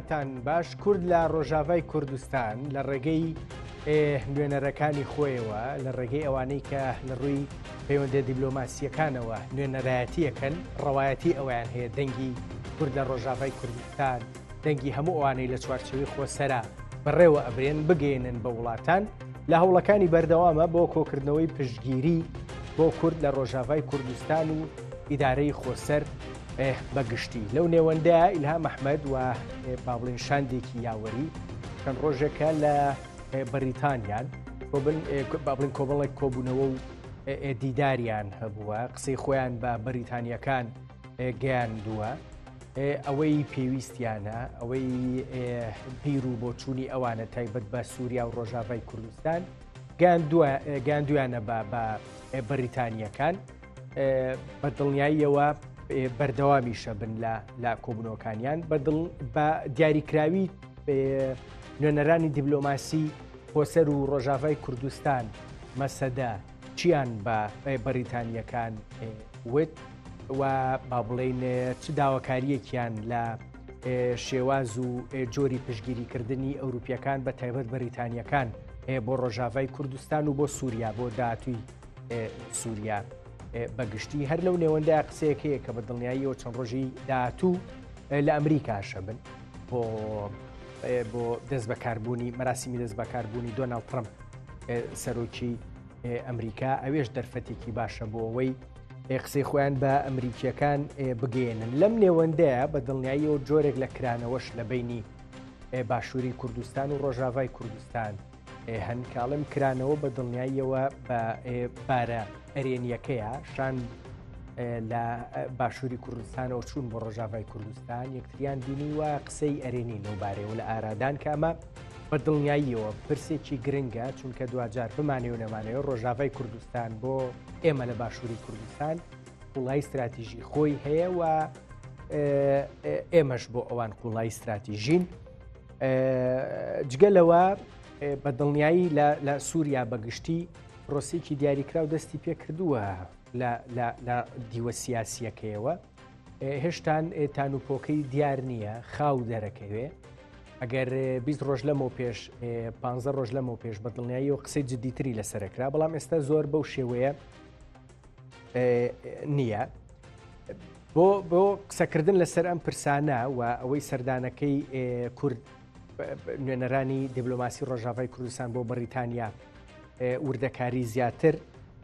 تان باش کورد لە ڕۆژاڤای کوردستان لە ڕێگەی ئێ نوێنەرەکانی خۆیەوە لە ڕێگەی ئەوانەی کە لە ڕووی پەیوەندە دیبلۆماسیەکانەوە نوێنەرایەتیەکەن ڕەوایەتی ئەویان هەیە دەنگی کورد لە ڕۆژاڤای کوردستان دەنگی هەموو ئەوانەی لە چوارچەوی خۆسەرا بەڕێوە ئەبرێن بگەێنن بە وڵاتان لە هەوڵەکانی بەردەوامە بۆ کۆکردنەوەی پشتگیری بۆ کورد لە ڕۆژاڤای کوردستان و ئیدارەی خۆسەر بە گشتی لەو نێوەندەیە ئیلهام ئەحمەد و با بڵێن شاندێکی یاوەری چەند ڕۆژێکە لە بەریتانیان با بڵین کۆمەڵێک کۆبوونەوە و دیداریان هەبووە قسەی خۆیان بە بەریتانیەکان گەیاندووە ئەوەی پێویستیانە ئەوەی بیر و بۆچوونی ئەوانە تایبەت بە سووریا و ڕۆژاڤای کوردستان گاندویانە بە بە بەریتانیەکان بە دڵنیاییەوە بەردەوامیشە بن لە لە کۆبنەوەکانیان بەدڵ بە دیاریکراوی نوێنەرانی دیبلۆماسی خۆسەر و ڕۆژاڤای کوردستان مەسەدە چیان بە بەریتانیەکان وت و با بڵین چ داواکاریەکیان لە شێواز و جۆری پشگیریکردنی ئەوروپیەکان بە تایبەت بەریتانیەکان بۆ ڕۆژاڤای کوردستان و بۆ سووریا بۆ داهاتوی سووریا بەگشتی هەر لەو نێوەندای قسەیەک هەیە کە بە دڵنیاییەوە چەند ڕۆژی داهاتوو لە ئەمریکاشە بن بۆ بۆ دەست بەکاربوونی مەراسیمی دەست بەکاربوونی دۆناڵ ترمپ سەرۆکی ئەمریکا ئەوێش دەرفەتێکی باشە بۆ ئەوەی قسەی خۆیان بە ئەمریکیەکان بگەێنن لەم نێوەندەیە بە دڵنیاییەوە جۆرێک لە کرانەوەش لە بینی باشووری کوردستان و ڕۆژاڤای کوردستان هەن کاڵم کرانەوە بە دڵنیاییەوە بە بارە ئەرێنیەکەیە شان لە باشووری کوردستانەوە چوون بۆ ڕۆژاڤای کوردستان یەکتریان بینی و قسەی ئەرێنی لەوبارەیەوە لە ئارادان کامە بە دڵنیاییەوە پرسێکی گرنگە چونکە دوجار بمانێ و نەمانەیە ڕۆژاڤای کوردستان بۆ ئێمە لە باشووری کوردستان وڵای استراتیژی خۆی هەیە و ئێمەش بۆ ئەوان قوڵای استراتیژین جگە لەوە بە دڵنیایی لە سووریا بەگشتی پرۆسیکی دیاریکراو دەستی پێ کردووە لە دیوە سیاسیەکەیەوە هێشتان تان و پۆکەی دیار نییە خاو دەرەکەوێ ئەگەر 20 ڕۆژ لەمە پێش 15 ڕۆژ لەمە پێش بە دڵنیایی و قسەی جددیتری لەسەرکرا بەڵام ئێستا زۆر بەو شێوەیە نییە بۆ بۆ قسەکردن لەسەر ئەم پرسانە و ئەوەی سەردانەکەی کورد نوێنەرانی دیبلۆماسی ڕۆژاڤای کوردستان بۆ بەریتانیا وردەکاری زیاتر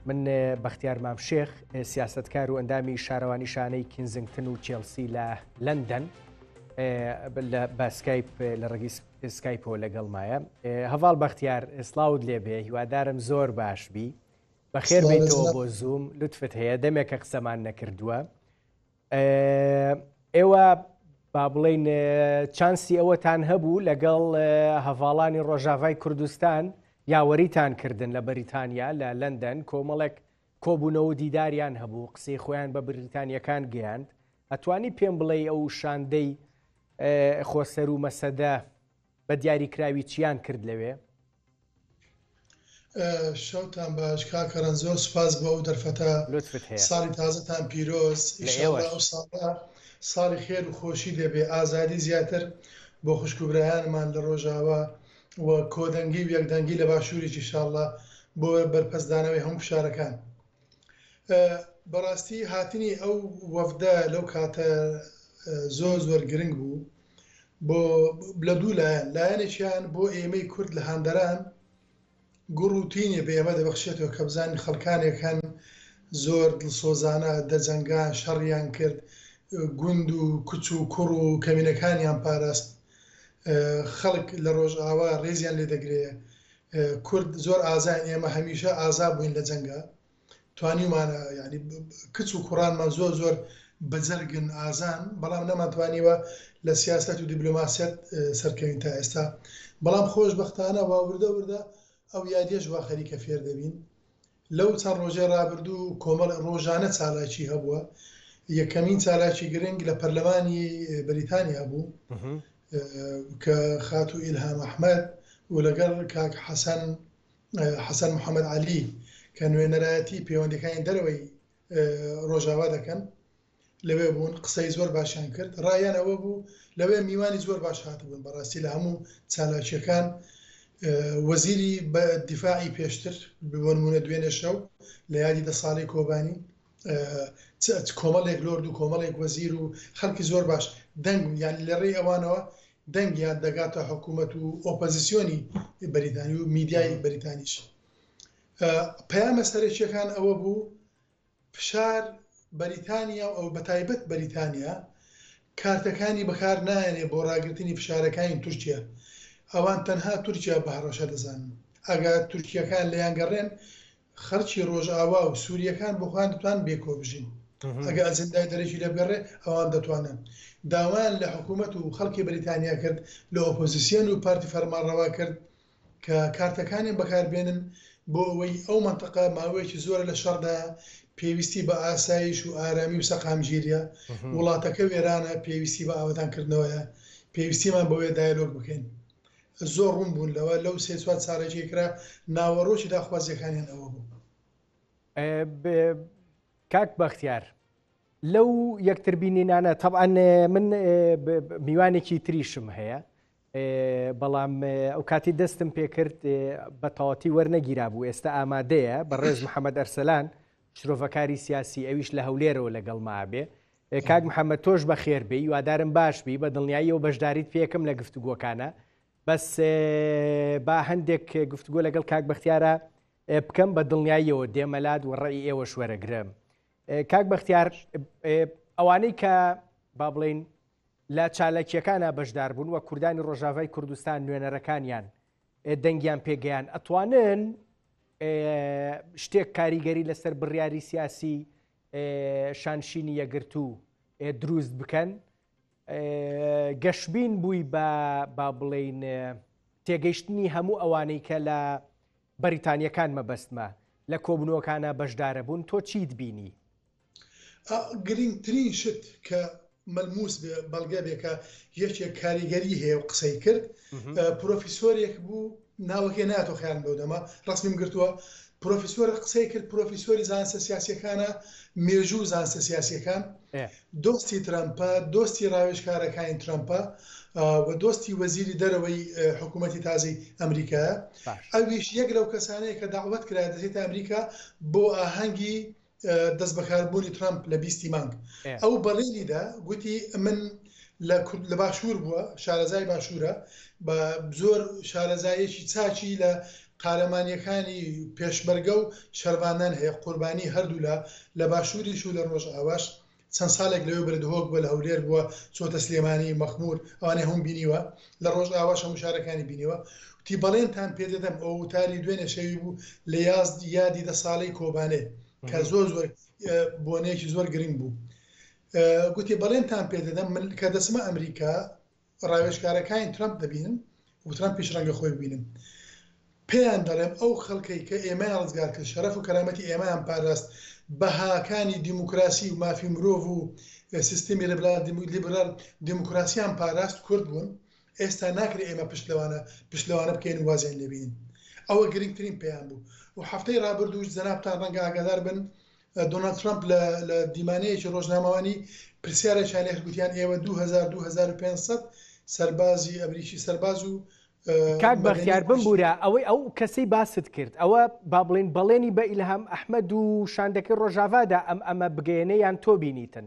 من بەختیار مام شێخ سیاستکار و ئەندامی شارەوانی شانەی کینزنگتن و چێلسی لە لەندەن لە باسکایپ لە ڕگی سکایپۆ لەگەڵمایە هەواڵ بەختیار سلااوت لێبێ هیوادارم زۆر باش بی بەخێر بێیتەوە بۆ زووم لوتفت هەیە دەمێکە قسەمان نەکردووە ئێوە با بڵین چانسی ئەوەتان هەبوو لەگەڵ هەڤاڵانی ڕۆژاڤای کوردستان یاوەریتان کردن لە بەریتانیا لە لەندەن کۆمەڵێک کۆبوونەوە دیداریان هەبوو قسەی خۆیان بە بریتانیەکان گەیاند ئەتوانی پێم بڵێ ئەو شاندەی خۆسەر و مەسەدە بە دیاری کراوی چیان کرد لەوێ؟ شەوتان باش کاک کەرەن زۆر سوپاس بۆ ئەو دەرفەتە لوتفت هەیە ساڵی تازەتان پیرۆز لە ئیشەڵا ئێوەش. ئەو ساڵە ساڵی خێر و خۆشی دەبێ ئازادی زیاتر بۆ خوشک و برایانمان لە ڕۆژاوا و کۆدەنگی و یەکدەنگی لە باشووریش ئیشاڵڵا بۆ بەرپەستدانەوەی هەموو فشارەکان. بەڕاستی هاتنی ئەو وەفدە لەو کاتە زۆر زۆر گرنگ بوو بۆ لە دوو لایەن لایەنێکیان بۆ ئێمەی کورد لە هەندەران گوڕ و تینێ بە ئێمە دەبەخشێتەوە کە بزانین خەڵکانێک هەن زۆر دڵسۆزانە دەجەنگان شەڕیان کرد گوند و کچ و کوڕ و کەمینەکانیان پاراست خەڵک لە ڕۆژئاوا ڕێزیان لێ دەگرێ کورد زۆر ئازاین ئێمە هەمیشە ئازا بووین لە جەنگا توانیومانە یانی کچ و کوڕانمان زۆر زۆر بەجەرگن ئازان بەڵام نەمانتوانیوە لە سیاست و دیبلۆماسیەت سەرکەوین تا ئێستا بەڵام خۆشببختانە واوردە وردە ئەو یادێش وا خەریکە فێر دەبین لەو چەند ڕۆژەی ڕابردوو کۆمەڵی ڕۆژانە چالاکی هەبووە، یەکەمین چالاکی گرنگ لە پەرلەمانی بەریتانیا بوو کە خاتوو ئیلهام ئەحمەد و لەگەڵ کاک حەسەن حەسەن محەمەد عەلی کە نوێنەرایەتی پەیوەندیەکانی دەرەوەی ڕۆژاوا دەکەن لەوێ بوون قسەی زۆر باشیان کرد ڕایان ئەوە بوو لەوێ میوانی زۆر باش هاتبوون بەڕاستی لە هەموو چالاکیەکان وەزیری بە دیفاعی پێشتر ببنمونە دوێنێ شەو لە یادی دە ساڵی کۆبانی کۆمەڵێک لۆرد و کۆمەڵێک وەزیر و خەڵکی زۆر باش دەنگ یان لە ڕێی ئەوانەوە دەنگیان دەگاتە حکوومەت و ئۆپەزیسیۆنی بەریتانی و میدیای بەریتانیش پەیامە سەرەکییەکان ئەوە بوو فشار بەریتانیا و بەتایبەت بەریتانیا کارتەکانی بەکار نایەنێ بۆ ڕاگرتنی فشارەکانی تورکیا، ئەوان تەنها تورکیا بە هەڕەشە دەزانن، ئەگا تورکییەکان لێیانگەڕێن خەڵکی ڕۆژئاوا و سورییەکان بۆ خۆیان دەتوانن بێکۆ بژین، ئەگا ئەجندای دەرەکی لێبگەڕێ ئەوان دەتوانن. داوایان لە حکوومەت و خەڵکی بەریتانیا کرد، لە ئۆپۆزیسیۆن و پارتی فەرمانڕەوا کرد کە کارتەکانیان بەکاربێنن بۆ ئەوەی ئەو مەنتەقە ماوەیەکی زۆرە لە شەڕدایە، پێویستی بە ئاسایش و ئارامی و سەقامگیریە، وڵاتەکە وێرانە، پێویستی بە ئاوەدانکردنەوەیە، پێویستیمان بەوەیە دایەلۆگ بکەین. زۆر ڕوون بوون لەوە، لەو سێ چوار چالاکیەی کرا، ناوەڕۆکی داخوازیەکانیان ئەوە بوو. کاک بەختیار، لەو یەکتربینینانە، تەبعەن من میوانێکی تریشم هەیە، بەڵام ئەوکاتی دەستم پێکرد بە تەواتی وەرنەگیرابوو ئێستا ئامادەیە بە ڕێز محەممەد ئەرسەلان شرۆڤەکاری سیاسی ئەویش لە هەولێرەوە لەگەڵ مابێ کاک محەممەد تۆش بە خێر بی وادارم باش بی بە دڵنیایی و بەشداریت پێکم لە گفتوگۆکانە بەس با هەندێک گفتگۆ لەگەڵ کاک بەختیارە بکەم بە دڵنیاییەوە دێمەلات و ڕێی ئێوە شوەرەگرم کاک بەختیار ئەوانەی کە با بڵین لە چالاکیەکانا بەشدار بوون و کوردانی ڕۆژاڤای کوردستان نوێنەرەکانیان دەنگیان پێ گەیان ئەتوانن شتێک کاریگەری لەسەر بڕیاری سیاسی شانشینی یەگرتو دروست بکەن گەشبین بووی بە با بڵین تێگەیشتنی هەموو ئەوانەی کە لە بەریتانیەکان مەبەستمە لە کۆبنەوەکانە بەشدارە بوون تۆ چیت بینی ئا گرینگترین شت کە مەلموس بێ بەڵگە بێ کە یەکێک کاریگەری هەیە و قسەی کرد پرۆفیسۆرێک بوو ناوەکەی ناتۆ خیان بەو دەما ڕسمیم گرتووە پرۆفیسۆر قسەی کرد پرۆفیسۆری زانسە سیاسەکانە مێژوو زانسە سیاسەکان دۆستی ترامپە دۆستی ڕاوێژکارەکانی ترامپە و دۆستی وەزیری دەرەوەی حکوومەتی تازی ئەمریکا ئەویش یەک لەو کەسانەیە کە داوت کرا دەێتە ئەمریکا بۆ ئاهەنگی دەستبەکاربوونی ترەمپ لە بیست ی مانگ ئەو بەڵێنی دا گوتی من لە کورد لە باشوور بووە شارەزای باشوورە بە زۆر شارەزایەکی چاکی لە قارەمانیەکانی پێشمەرگە و شەرڤانان هەیە قوربانی هەردوولا لە باشووریش و لە ڕۆژئاواش چەند ساڵێک لەوێ بەرە دهۆک بووە، لە هەولێر بووە، چووەتە سلێمانی، مەخموور، ئەوانەی هەمووم بینیوە، لە ڕۆژئاواش هەموو شارەکانی بینیوە. وتی، بەڵێنتان پێ دەدەم، ئەوە وتاری دوێنێ شەوی بوو لە یادی دە ساڵەی کۆبانێ، کە زۆر زۆر بۆنەیەکی زۆر گرنگ بوو. گوتی، بەڵێنتان پێ دەدەم، من کە دەچمە ئەمریکا، ڕاوێژکارەکانی ترەمپ دەبینن و ترەمپیش ڕەنگە خۆی ببینم پێیان دەڵێم ئەو خەڵکەی کە ئێمەیان ڕزگار کرد شەرەف و کەرامەتی ئێمەیان پاراست بەهاکانی دیموکراسی و مافی مرۆڤ و سیستمی لەبرار لیبرال دیموکراسیان پاراست کورد بوون ئێستا ناکرێت ئێمە پشت لەوانە پشت لەوانە بکەین وازیان لێبین ئەوە گرنگترین پێیان بوو و هەفتەی ڕابردووش جەنابتان ڕەنگە ئاگادار بن دۆناڵد ترەمپ لە لە دیمانەیەکی ڕۆژنامەوانی پرسیارێکیان لێکرد گوتیان ئێوە دوو هەزار دوو هەزار و پێنج سەد سەربازی ئەمریکی سەرباز و کاک بەختیار بمبورە ئەوەی ئەو کەسەی باست کرد ئەوە با بڵین بەڵێنی بە ئیلهام ئەحمەد و شاندەکەی ڕۆژاڤادا ئەم ئەمە بگەێنە یان تۆ بینیتن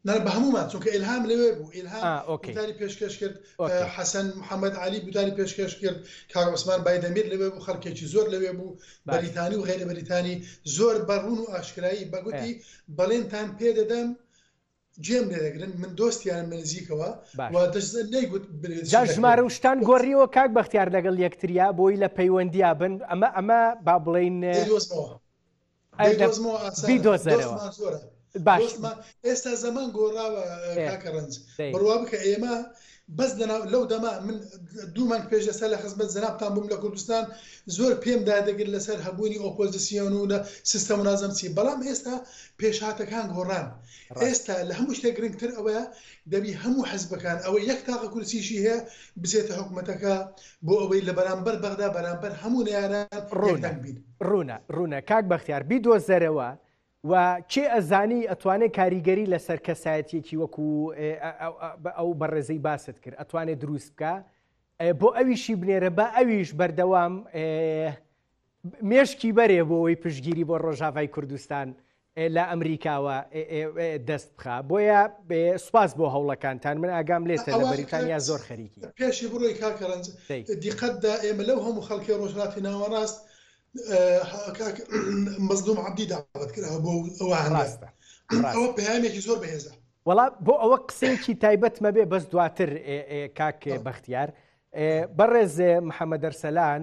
نا بە هەموومان چونکە ئیلهام لەوێ بوو ئیلهام ئا ئۆکەی گوتاری پێشکەش کرد ئا ئۆکەی حەسەن محەمەد عەلی گوتاری پێشکەش کرد کاک عوسمان بایدەمیر لەوێ بوو خەڵکێکی زۆر لەوێ بوو باشە بەریتانی و غەیرە بەریتانی زۆر بە ڕوون و ئاشکرایی بە ئێ گوتی بەڵێنتان پێ دەدەم جێم لێ دەگرن من دۆستیانم لە نزیکەوە و باشە دەشزە نەیگوت برێ جا چی دەکرێ ژمارە و شتان وت گۆڕیوە کاک بەختیار لەگەڵ یەکتریا بۆی لە پەیوەندیا بن ئەمە ئەمە با بڵێین دەیدۆزمەوە بیدۆزەرەوە باش ئێستا زەمان گۆڕاوە کاکە ڕەنج بڕوا بکە ئێمە بەس لەناو لەو دەما من دوو مانگ پێش لەسەر لە خزمەت زەنابان بووم لە کوردستان زۆر پێم دادەگر لەسەر هەبوونی ئۆپۆزیسیۆن و لە سیستەم و نازم چی بەڵام ئێستا پێشهاتەکان گۆڕان ئێستا لە هەموو شتێک گرنگتر ئەوەیە دەبی هەموو حزبەکان ئەوە یەک تاقە کورسیشی هەیە بچێتە حکوومەتەکە بۆ ئەوەی لە بەرامبەر بەغدا بەرامبەر هەموو نیارە ڕۆژدەنگ بین ڕوونە ڕوونە کاک بەختیار بیدۆزەرەوە و کێ ئەزانی ئەتوانێت کاریگەری لەسەر کەسایەتێکی وەکو ئەو بەڕێزەی باست کرد ئەتوانێت دروست بکە بۆ ئەویشی بنێرە بە ئەویش بەردەوام مێشکی بەرێ بۆ ئەوی پشگیری بۆ ڕۆژاڤای کوردستان ئێ لە ئەمریکاوە دەست بخە بۆیە سوپاس بۆ هەوڵەکانتان من ئاگام لێتە لە بەریتانیا زۆر خەریکی. پێشی بڕۆی کاکە ڕەنج دیقەت دا ئێمە لەو هەموو خەڵکەی ڕۆژهەڵاتی ناوەڕاست کاک مەزلوم عەبدی داوەت کراوە بۆ ئەوە هەندە ئەوە پەیامێکی زۆر بەهێزە وڵا بۆ ئەوە قسەیەکی تایبەتمە بێ بەس دواتر کاک بەختیار بەڕێزێ محەممەدەرسەلان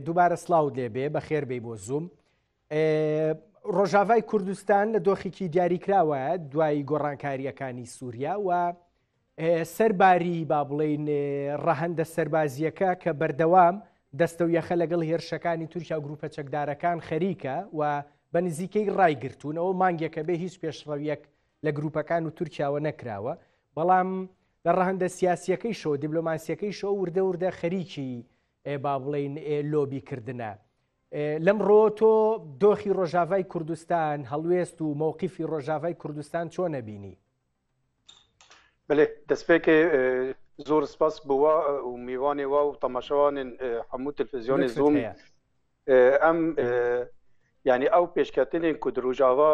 دووبارە سلااو لێبێ بە خێربەی بۆ زووم ڕۆژاڤای کوردستان لە دۆخێکی دیاریکراوە دوای گۆڕانکاریەکانی سووریا و سەرباری با بڵین ڕەهندە سەربازیەکە کە بەردەوام دەستە و یەخە لەگەڵ هێرشەکانی تورکیا و گروپە چەکدارەکان خەریکە و بە نزیکەی ڕایگرتوونەوە مانگێکە بێ هیچ پێشڕەویەک لە گروپەکان و تورکیاوە نەکراوە بەڵام لە ڕەهندە سیاسیەکەی شەوە دیبلۆماسیەکەی شەوە وردە وردە خەریکی با بڵین لۆبی کردنە لەمڕۆ تۆ دۆخی ڕۆژاڤای کوردستان هەڵوێست و مەوقیفی ڕۆژاڤای کوردستان چۆن نەبینی بلێ دەستپێکێ زۆر سپاس بووە و میوانێ وا و تەماشەوانن هەموو تلفزیۆنی زوم ئەم ینی ئەو پێشکەتنێن کو ڕژاوا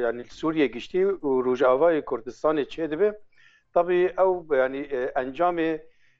ینی سووریە گشتی و ڕژاوای کوردستانی چێ دەبێ طبی ئەو ینی ئەنجامێ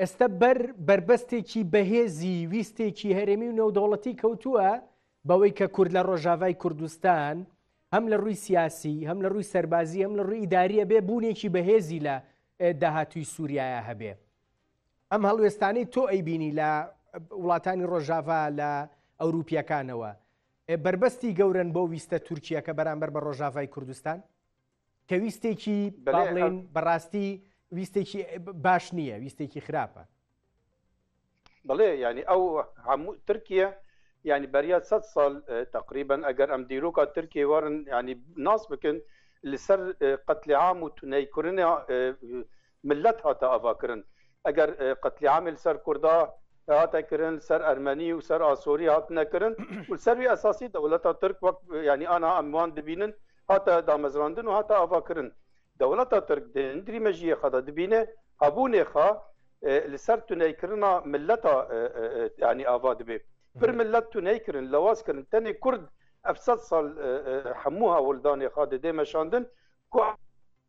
ئێستا بەر بەربەستێکی بەهێزی ویستێکی هەرێمی و نێودەوڵەتی کەوتووە بەوەی کە کورد لە ڕۆژاڤای کوردستان هەم لە ڕووی سیاسی هەم لە ڕووی سەربازی هەم لە ڕووی ئیداریە بێ بوونێکی بەهێزی لە داهاتوی سووریایە هەبێ ئەم هەڵوێستانەی تۆ ئەیبینی لە وڵاتانی ڕۆژاڤا لە ئەوروپیەکانەوە بربەستی گەورن بۆ ویستە تورکیە کە بەرامبەر بە ڕۆژاڤای کوردستان کە ویستێکی بەڵێن بەڕاستی ویستێکی باش نییە ویستێکی خراپە بڵێ ینی ئەو هەموو ترکیە ینی بەریاد سە ساڵ تقریبن ئەگەر ئەم دیرۆکە ترکیە وارن ینی ناس بکن لەسەر قەتلی عام و تونەیکردنە ملت هاتە ئاڤا کرن ئەگەر قتلیعامی لسەر کوردا هاتە کرن لسەر ئەرمەنی و سەر ئاسۆری هاتنە کرن و لسەر وی ئەساسی دەولەتا ترک وەک یانی ئانا ئەم وان دبینن هاتە دامەزراندن و هاتە ئاڤا کرن دەولەتا ترک دە هندری مەژیێخا دا دبینێ هەبونێخا لسەر تونەی کرنا ملتا یانی ئاڤا دبێ پر ملت تونەی کرن لەواز کرن تەنێ کورد ئەف سەد سال حەموو هاولدانێخا ددێ مەشاندن کو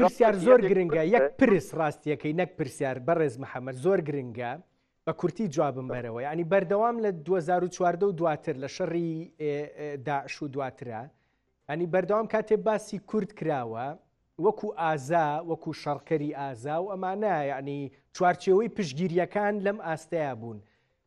پرسیار زۆر گرنگە یەک پرس ڕاستیەکەی نەک پرسیار بەڕێز محەممەد زۆر گرنگە بە کورتی جوابم بەرەوە ینی بەردەوام لە 2014 و دواتر لە شەڕی داعش و دواترە ئەنی بەردەوام کاتێ باسی کورد کراوە وەکو ئازا وەکو شەڕکەری ئازا و ئەمانە یعنی چوارچێوەی پشگیریەکان لەم ئاستەیە بوون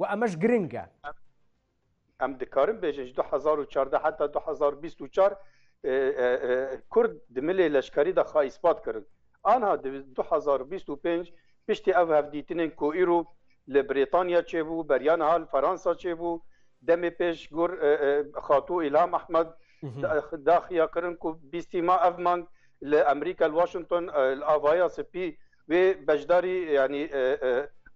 و ئەمەش گرنگە. ئەم دکارم بێژنج دو هەزار و چاردە هەتا دو هەزار و بیست و چوار کورد د ملێ لەشکری دا خا ئیسپات کردن ئانها د دو هەزار و بیست و پێنج پشتی ئەو هەفدیتنێن کۆ ئیرو لە برێتانیا چێ بو بەریان هال فەرانسا چێ بو دەمێ پێش گور خاتو ئیلام ئەحمەد داخیا کردن کو بیستی ما ئەڤ مانگ لە ئەمریکا لە واشنتۆن ئاڤایا سپی وێ بەشداری یانی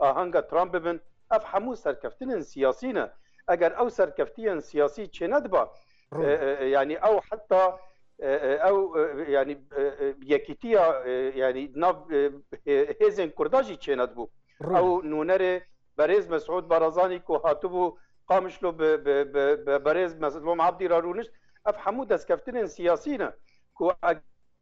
ئاهەنگە ترامپ ببن، ئەڤ هەموو سەرکەفتنن سیاسی نە، ئەگەر ئەو سەرکەفتیەن سیاسی چێنەدبا ڕوونە. یانی ئەو حەتا ئەو یانی یەکیتیە یانی ناڤ هێزێن کوردا ژی چێنەدبوو. ئەو نوونەرێ بەرێز مەسعود بارزانی کۆ هاتبوو قامشلۆ بە بە بەرێز مەزڵوم عەبدی را روونشت، ئەڤ هەموو دەسکەفتنن سیاسی نە، کۆ ئە.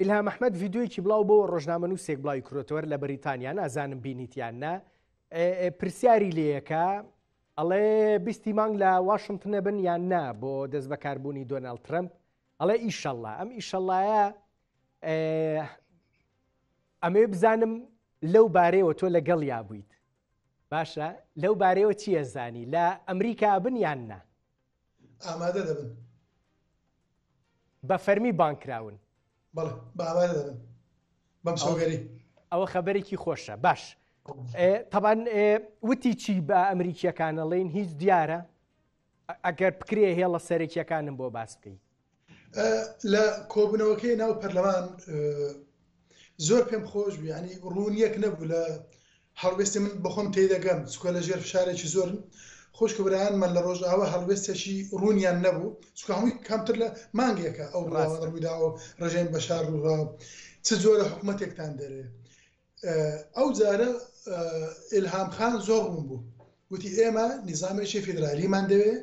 ئیلهام ئەحمەد ڤیدیۆیەکی بڵاو بۆ ڕۆژنامەنووسێک بڵاوی کرۆتەوەر لە بەریتانیا نازانم بینیتیان نا پرسیاری لەکە ئەڵێ بیستی مانگ لە واشنتنە بن یان نا بۆ دەست بەکاربوونی دۆناالد ترمپ ئەڵێ ئیشەله ئەم ئیشەڵایە ئەمێ بزانم لەو بارەیەوە تۆ لەگەڵ یا بوویت باشە لەو بارەیەوە چییە زانی لە ئەمریکا بن یان نا ئامادە دەبن. بە فەرمی بانگ کراون. بەڵێ بە ئامادە دەبن بەم سۆگەری. ئەوە خەبەرێکی خۆشە باش. تەبان وتی چی بە ئەمریکیەکانەڵین هیچ دیارە ئەگەر بکرێ هێڵە سەرەکیەکانم بۆ باس بکەیت لە کۆبونەوەکەی ناو پەرلەمان زۆر پێم خۆش بوو ینی ڕوونیەک نەبوو لە هەڵوێستی من بەخۆم تێدەگەم چکۆ لە ژێر فشارێکی زۆر خۆشکە برایانمان لە ڕۆژاوە هەڵوێستێکی ڕوونیان نەبوو چکە هەمووی کەمتر لە مانگێکە ئەو ڕاستڕوویداوە ڕژێن بەشار ڕووڕاو چ جۆرە حکوومەتێکتان دەرێ ئەو جارە ئیلهام خان زۆر ڕوون بوو وتی ئێمە نیزامێکی فیدرالیمان دەوێ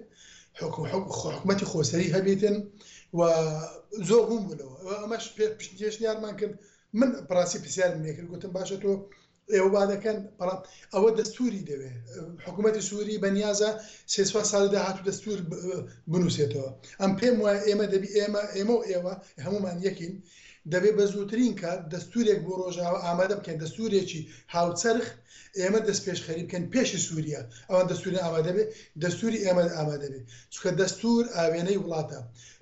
حکومەتی خۆسەری هەبێتن و زۆر ڕوون بوونەوە ئەمەش پێ پشتێشنیارمان کرد من پراسی پرسیارم لێکرد گوتم باشە تۆ ئێوە با دەکەن بەڵام ئەوە دەستوری دەوێ حکوومەتتی سووری بەنیازە سێسوا ساڵی داهات و دەستور بنووسێتەوە ئەم پێم وایە ئێمە دەبی ئێمە ئێمە و ئێوە هەمومان یەکین دەبێت بە زووترین کات دەستوورێک بۆ ڕۆژاوا ئامادە بکەن، دەستوورێکی هاوچەرخ، ئێمە دەستپێشخەری بکەین پێش سووریا ئەوان دەستووریان ئامادە بێت، دەستووری ئێمە ئامادە بێت، چونکە دەستوور ئاوێنەی وڵاتە،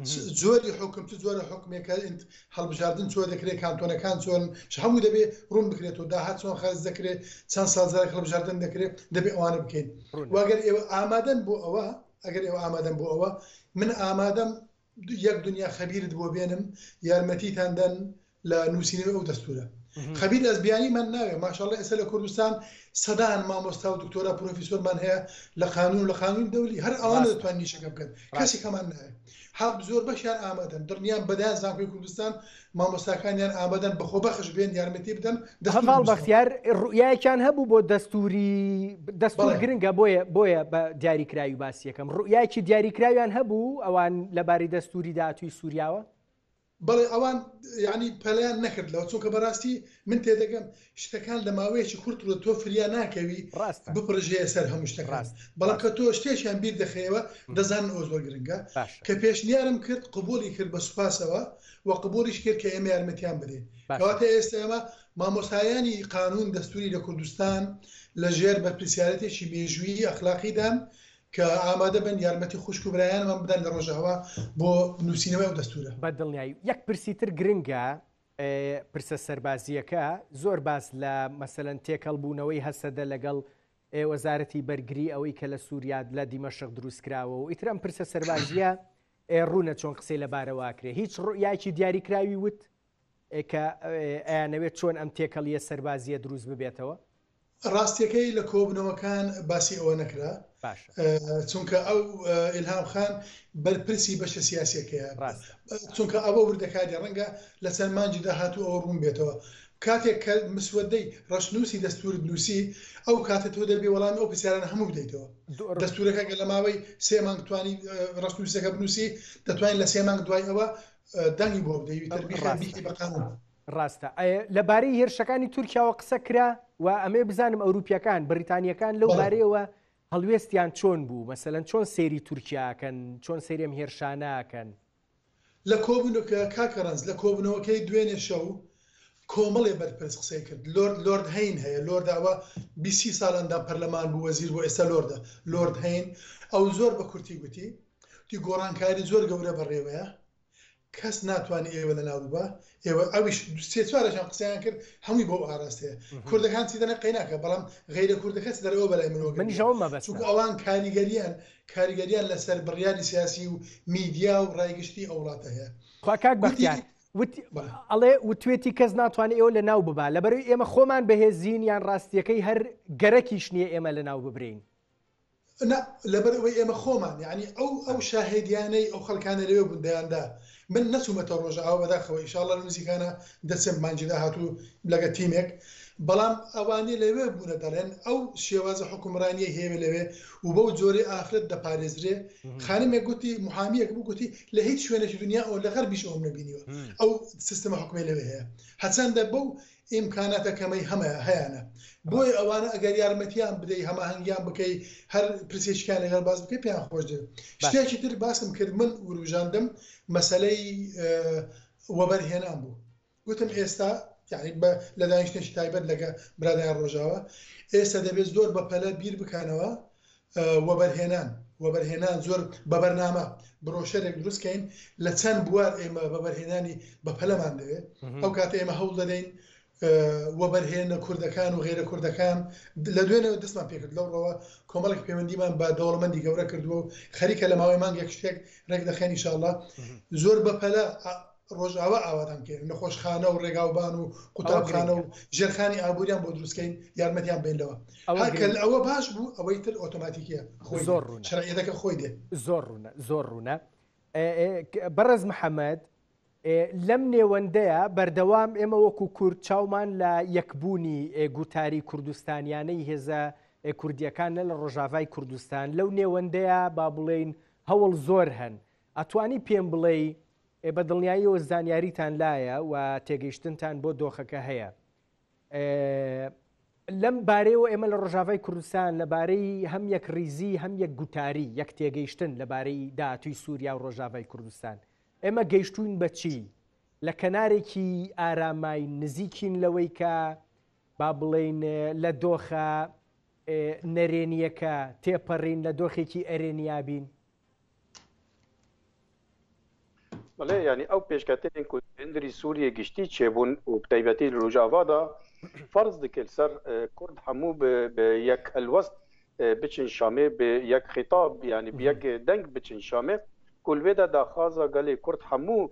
چ جۆری حوکم، چ جۆرە حوکمێکە، هەڵبژاردن چۆن دەکرێت، کانتۆنەکان چۆنن، هەموو دەبێت ڕوون بکرێتەوە، داهات چۆن خەرج دەکرێت، چەند ساڵ جارێک هەڵبژاردن دەکرێت، دەبێت ئەوانە بکەین و ئەگەر ئێوە ئامادەن بۆ ئەوە، ئەگەر ئێوە ئامادەن بۆ ئەوە، من ئامادەم یەک دنیا خەبیرت بۆ بێنم یارمەتیتان دەن لە نووسینەوەی ئەو دەستورە خەبیر ئەزبیانی من ناوێ ماشاءاللە ئێستا لە کوردستان سەدان مامۆستا و دکتۆرا پرۆفیسۆرمان هەیە لە قانون و لە قانون دەولی هەر ئەوان دەتوانین نیشەکە بکەن کەسی کەمان نایە حەب زۆر بەشیان ئامادەن دڵنیام بەدایان زانکۆی کوردستان مامۆستاکانیان ئامادەن بەخۆبەخش بێن یارمەتی بدەن هەڤاڵ بەختیار ڕوئایەکیان هەبوو بۆ دەستوری دەستور گرنگە بۆیە بۆیە بە دیاریکراوی باسیەکەم ڕوئایکی دیاریکراویان هەبوو ئەوان لەبارەی دەستوری داهاتوی سوریاوە بەڵێ ئەوان یعنی پەلیان نەکرد لەوە چونکە بەراستی من تێدەگەم شتەکان لە ماوەیەکی کورت ڕوو تۆ فریا ناکەوی ڕاستە بپڕژێ سەر هەموو شتەکان ڕاست بەڵام کە ڕاستە تۆ شتێکیان بیر دەخەیەوە م. دەزانن ئەوە زۆر گرنگە باشە کە پێشنیارم کرد قبوڵی کرد بە سوپاسەوە و قبوڵیش کرد کە ئێمە یارمەتیان بدەین باشە. کەواتە ئێستە ئێمە مامۆستایانی قانون دەستوری لە کوردستان لە ژێر بەرپرسیارەتێکی مێژوویی ئەخلاقیدان کە ئامادە بن یارمەتی خوشک و برایانمان بدەن لە ڕۆژئاوا بۆ نووسینەوەی ئەو دەستورە. بە دڵنیایی یەک پرسی تر گرنگە پرسە سەربازییەکە، زۆر باس لە مەسەلەن تێکەڵ بوونەوەی هەسەدە لەگەڵ وەزارەتی بەرگری ئەوەی کە لە سوریا لە دیمەشق دروست کراوە و ئیتر ئەم پرسە سەربازییە ڕوونە چۆن قسەی لە بارەوە کرێ هیچ ڕوئیاکی دیاری کراوی وت کە ئەیانەوێت چۆن ئەم تێکەڵیە سەربازیە دروست ببێتەوە ڕاستیەکەی لە کۆبنەوەکان باسی ئەوە نەکرا چونکە ئەو ئلهام خان بەرپرسی بەشە سیاسەکەیە چونکە ئەوە وردەکاری ڕەنگە لە چەند مانجی داهاتوو ئەوە ڕوون بێتەوە کاتێک کە مسوەدەی ڕشنووسی دەستور نووسی ئەو کاتە تۆ دەبێ وەڵامی ئەو پرسیاران هەموو بدەیتەوە دەستورەکە گە لە ماوەی سێ مانگ توانی ڕشنووسەکە بنووسی دەتوانین لە سێ مانگ دوای ئەوە دەنگی بۆ بدەیت تەربیخی بەقانون ڕاستە ئەیە لەبارەی هێرشەکانی تورکیاوە قسە کرا و ئەمێ بزانم ئەوروپیەکان بریتانیەکان لەو بارەیەوە هەڵوێستیان چۆن بوو مەسەەن چۆن سێری تورکیاکەن چۆن سێریم هێرشاناکەن لە کۆبنوکە کاکە ڕەنج لە کۆبنەوەکەی دوێنێ شەو کۆمەڵێ بەرپرس قسەی کرد لۆرد لۆرد هەین هەیە لۆرد ئەوە بیست سی ساڵ ئەندام پەرلەمان بوو وەزیر بوو ئێستا لۆردە لۆرد هەین ئەو زۆر بە کورتی گوتی وتی گۆڕانکاری زۆر گەورە بەڕێوەیە کەس ناتوانێ ئێوە لەناو ببا ئێوە ئەویش سێ چوارەشان قسەیان کرد هەمووی بۆ ئاراستەیە کوردەکان چی دەنە قەیناکە بەڵام غیرە کوردەکەس دەرەوە بەلای مرۆ منیشەوە مەبەست چونکە ئەوان کاریگەریان کاریگەریان لەسەر بڕیاری سیاسی و میدیا و ڕایگشتی ئەو وڵاتە هەیە خوا کاک بەختیار ئەڵێ وتوێتی کەس ناتوانێت ئێوە لە ناو ببا لەبەروی ئێمە خۆمان بەهێزین یان ڕاستیەکەی هەر گەرەکیش نییە ئێمە لە ناو ببرین نا لەبەر ئەوەی ئێمە خۆمان یەعنی ئەو ئەو شاهێدیانەی ئەو خەلکانە لەوێ بوون دەیاندا من نەچوومەتە ڕۆژئاوا بەداخەوە ئیشاڵا نزیکانە دەچم مانگی داهاتوو لەگە تیمێک بەڵام ئەوانەی لەوێ بوونە دەڵێن ئەو شێوازە حکومڕانیە هێوێ لەوێ و بەو جۆرەی ئافرەت دەپارێزرێ خانمێک گوتی محامیەک بوو گوتی لە هیچ شوێنێکی دنیا ئەو لە غەربیش ئەوم نەبینیوە ئەو سیستمە حکومی لەوێ هەیە هەچەندە بەو ئیمکاناتە کەمەی هەمەیە هەیانە بۆیە ئەوانە ئەگەر یارمەتیان بدەی هەماهەنگیان بکەی هەر پرسێکیان لەگەڵ باس بکەی پێیان خۆش دێ شتێکی تر باسم کرد من وروژاندم مەسلەی وەبەرهێنان بوو گوتم ئێستا یعنی بە لە دانیشتێکی تایبەت لەگە برادیان ڕۆژاوە ئێستا دەبێت زۆر بە پەلە بیر بکەنەوە وەبەرهێنان وەبەرهێنان زۆر بە بەرنامە برۆشەرێک دروست کەین لە چەند بوار ئێمە بەبەرهێنانی بەپەلەمان دەوێت ئەو کاتە ئێمە هەوڵ دەدەین وەبەرهێنە کوردەکان و غێرە کوردەکان لە دوێنەوە دەستمان پێکرد لەو ڕەوە کۆمەڵک پەیوەندیمان بە دەوڵەمەندی گەورە کردووە و خەریکە لە ماوەی مانگێک شتێک ڕێک دەخەنی شاءله زۆر بەپەلە ڕۆژئاوا ئاوادان بکەین نەخۆشخانە و ڕێگاوبان و قوتابخانە و ژێرخانی ئابووریان بۆ دروستکەین یارمەتیان بێنەوە ئەوگەل ئەوە باش بوو ئەوەی تر ئۆتۆماتیکە خۆی زۆر ڕوون شرعەتەکە خۆی دێ زۆر ڕوونە زۆر ڕوونە بەڕێز محەممەد لەم نێوەندەیە بەردەوام ئێمە وەکو کورد چاومان لە یەکبوونی گوتاری کوردستانیانەی هێزە کوردیەکان لە لە ڕۆژاڤای کوردستان لەو نێوەندەیە با بڵێین هەوڵ زۆر هەن ئەتوانی پێم بڵێی ئێ بە دڵنیاییەوە زانیاریتان لایە و تێگەیشتنتان بۆ دۆخەکە هەیە لەم بارەیەوە ئێمە لە ڕۆژاڤای کوردستان لەبارەی هەم یەک ریزی هەم یەک گوتاری یەک تێگەیشتن لەبارەی داهاتوی سووریا و ڕۆژاڤای کوردستان ئێمە گەیشتوین بەچی لە کەنارێکی ئارامای نزیکین لەوەی کە با بڵین لە دۆخە نەرێنیەکە تێپەڕین لە دۆخێکی ئەرێنیابین بەڵێ یانی ئەو پێشکەتێن کو هندری سووریە گشتی چێبوون و بتایبەتی لوژاڤادا فەرز دکرد سەر کورد هەموو بە یەک هەلوەست بچن شامێ بە یەک خیتاب یانی بە یەک دەنگ بچن شامێ کولێدا داخوازە گەلێ کورد هەموو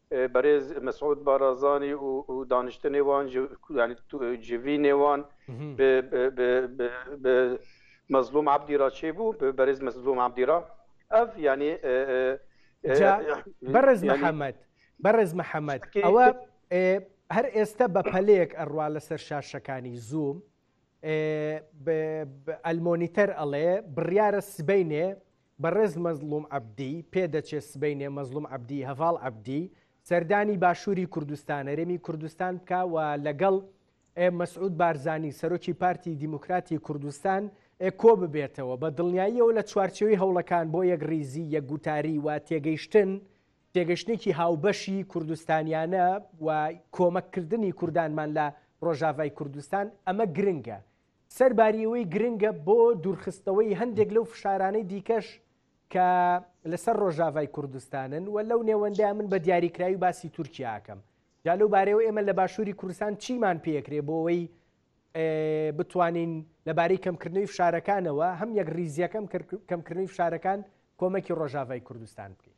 بەرێز مسعود بارازانی و دانیشتە نێوان جڤی نێوان مەزلوم عبدی را چێ بوو بەرێز مەزلوم عبدی را ئەف ینی بەڕێز محەممەد بەڕێز محەممەد ئەوە هەر ئێستا بە پەلەیەک ئەڕوا لەسەر شاشەکانی زووم ئەلمۆنیتەر ئەڵێ بڕیاە سبینێ بەڕێز مەزڵوم عەبدی، پێدەچێت سبەینێ مەزڵوم عەبدی هەڤاڵ عەبدی سەردانی باشووری کوردستان، هەرێمی کوردستان بکا و لەگەڵ ە مەسعود بارزانی، سەرۆکی پارتی دیموکراتی کوردستان ە کۆببێتەوە، بە دڵنیاییەوە لە چوارچێوەی هەوڵەکان بۆ یەکڕیزی، یەکگوتاری و تێگەیشتن، تێگەشتنێکی هاوبەشی کوردستانیانە و کۆمەککردنی کوردانمان لە ڕۆژاڤای کوردستان، ئەمە گرنگە. سەرباریەوەی گرنگە بۆ دوورخستنەوەی هەندێک لەو فشارانەی دیکەش کە لەسەر ڕۆژاڤای کوردستانن و لەو نێوەندە من بە دیاریکراوی باسی تورکیاکەم جا لەو بارەوە ئێمە لە باشووری کوردستان چیمان پێکرێ بۆەوەی بتوانین لەبارەی کەمکردنەوەی فشارەکانەوە هەم یەک ریزیەکەم کەمکردنی فشارەکان کۆمەکی ڕۆژاڤای کوردستان بکەین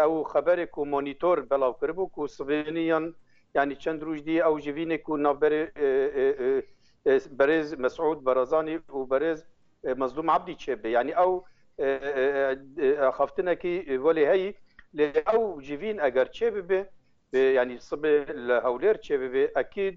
ئەو خەبەرێ کو مۆنیتۆر بەڵاوکربوو کو سڤێنیان یانی چەند رووژ دی ئەو ژڤینێ کو ناوبەرێ بەرێز مەسعود بەڕزانی و بەرێز مەزلوم عەبدی چێ بێ یانی ئەو ئاخافتنە کی وەلێ هەی لێ ئەو ژڤین ئەگەر چێ ببێ یانی سبێ لە هەولێر چێ ببێ ئەکید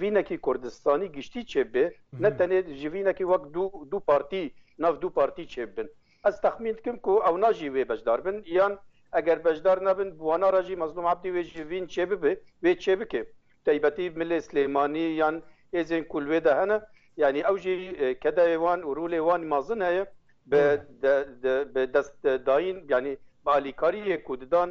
ڤینەکی کوردستانی گشتی چێ بێ نەتەنێ ژڤینەکی وەک دوو پارتی ناو دوو پارتی چێ بن ئەس تەخمین دکم کو ئەو ناژی وێ بەشدار بن یان ئەگەر بەشدار نەبن بوانە ڕژی مەزلوم عبدی وێ ژڤین چێ ببێ وێ چێ بکێ تەیبەتی ملێ سلێمانی یان هێزێن کول وێ دە هەنە یعنی ئەو ژی کەدای وان و ڕولێ وان مازن هەیە بە دەست داین یعنی بە ئالیکاریە کوددان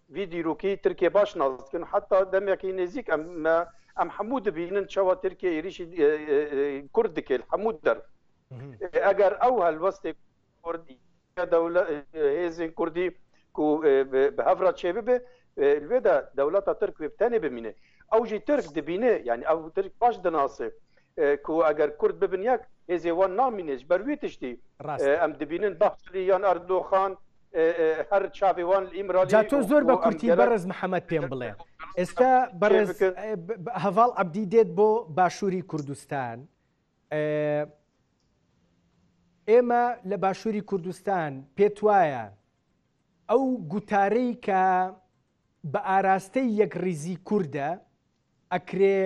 ڤی دیروکی ترکیە باش نازکن حتا دەمێکی نێزیک ئەم مە ئەم حەموو دبینن چەوە ترکیە ئیریشی کورد دکێل حەموو دەر ئەگەر ئەو هەلوەستێ کوردی دەولە هێزین کوردی کو بە هەفرا چێ ببێ لێدا دەولەتە ترک وێ تەنێ بمینێ ئەو ژی ترک دبینێ یعنی ئەو ترک باش دناسێ کو ئەگەر کورد ببن یەک هێزێوان نامینێش بەروی تشتی ئەم دبینن بەخشری یان ئەردۆخان جا تۆ زۆر بە کورتی بەڕێز محەمەد پێم بڵێ ئێستا بەڕێز هەڤاڵ عەبدی دێت بۆ باشووری کوردستان ئێمە لە باشووری کوردستان پێت وایە ئەو گوتارەی کە بە ئاراستەی یەک ڕیزی کووردە ئەکرێ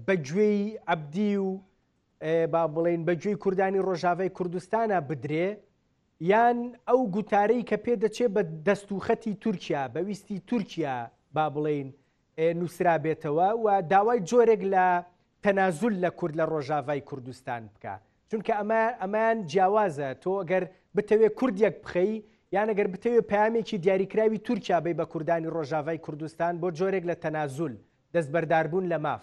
بەگوێی عەبدی و با بڵین بەگوێی کوردانی ڕۆژاوای کوردستانە بدرێ یان ئەو گوتارەی کە پێ دەچێ بە دەست و خەتی تورکیا، بە ویستی تورکیا با بڵێین نووسرابێتەوە و داوای جۆرێک لە تەنازول لە کورد لە ڕۆژاڤای کوردستان بکا. چونکە ئەمە ئەمان جیاوازە تۆ گەر بتەوێ کورد یەک بخەی یان گەر بتەوێ پامێکی دیاریکراوی تورکیا بی بە کوردانی ڕۆژاڤای کوردستان بۆ جۆرێک لە تەنازول، دەستبەرداربوون لە ماف.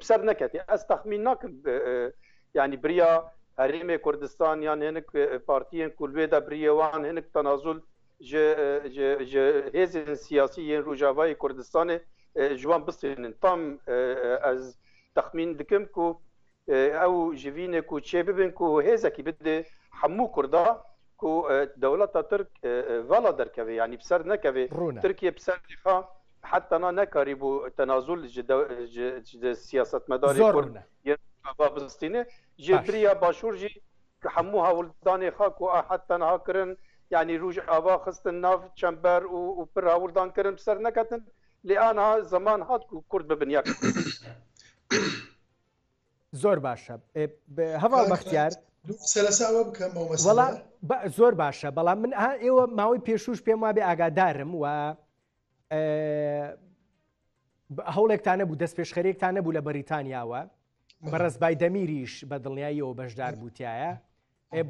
بسەر نەکەێ ئەس تەخمین ناکرد ینی بریا هەرێمێ کوردستان یان هێنک پارتیان کولێ دە بریێوان هێنک تەنازول هێزن سیاسی یەن ڕژاوای کوردستانێ جوان بستێنن تام ئەز تەخمین دکم کو ئەو ژڤینێ و چێ ببن و هێزەکی بدێ هەموو کووردا کو دەوڵەتە ترک ڤڵا دەرکەوێ ینی بسەر نەکەوێ ترکیە بسەر حەد تەنا نەکاری بوو تەنازول سیاستمەداری کورد بستینێ ژێ بریا باشوورژی کە هەموو هەوڵدانێ خاک و ئاحەد تەنها کردن یعنی روژ ئاوا خستن ناو چەمبەر و پر هەوڵدان کردن سەر نەکەتن لێ ئانا زەمان هات و کورد ببن یەک زۆر باشە هەواڵ بەختیار سەرساوە بکەم زۆر باشە بەڵام من ئێوە ماوەی پێشوش پێم وابێ ئاگادارم و هەوڵێکتان نەبوو دەست پێشخەرێکتان نەبوو لە بەریتانیاوە بەڕز بای دەمیریش بە دڵنیاییەوە بەشدار بووتایە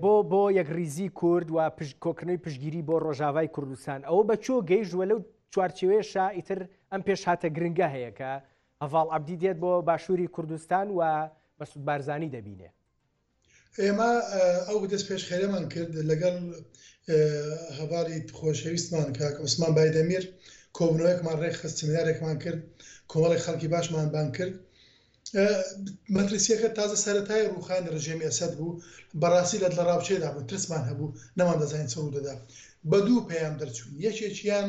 بۆ بۆ یەک ریزی کورد و پشت کۆکردنەوەی پشگیری بۆ ڕۆژاوای کوردستان ئەوە بە چۆ گەیشتوە لەو چوارچێوێشە ئیتر ئەم پێشهاتە گرنگە هەیەکە هەڤاڵ عبدی دێت بۆ باشووری کوردستان و مەسود بارزانانی دەبینێ ئێمە ئەو دەستپێشخەرێمان کرد لەگەڵ هەڤاڵی خۆشەویستمان کاک عوسمان بایدەمیر کۆبنەوەیەکمان ڕێکخست سمینارێکمان کرد کۆمەڵی خەڵکی باشمان بان کرد مەترسیەکە تازە سەتای ڕوخانی ڕژێمی ئەسد بوو بەڕاستی لە لە ڕاوچێدا بوو ترسمان هەبوو نەمان دەزانین چڕوو دەدا بە دوو پەیام دەرچوون یەکێکیان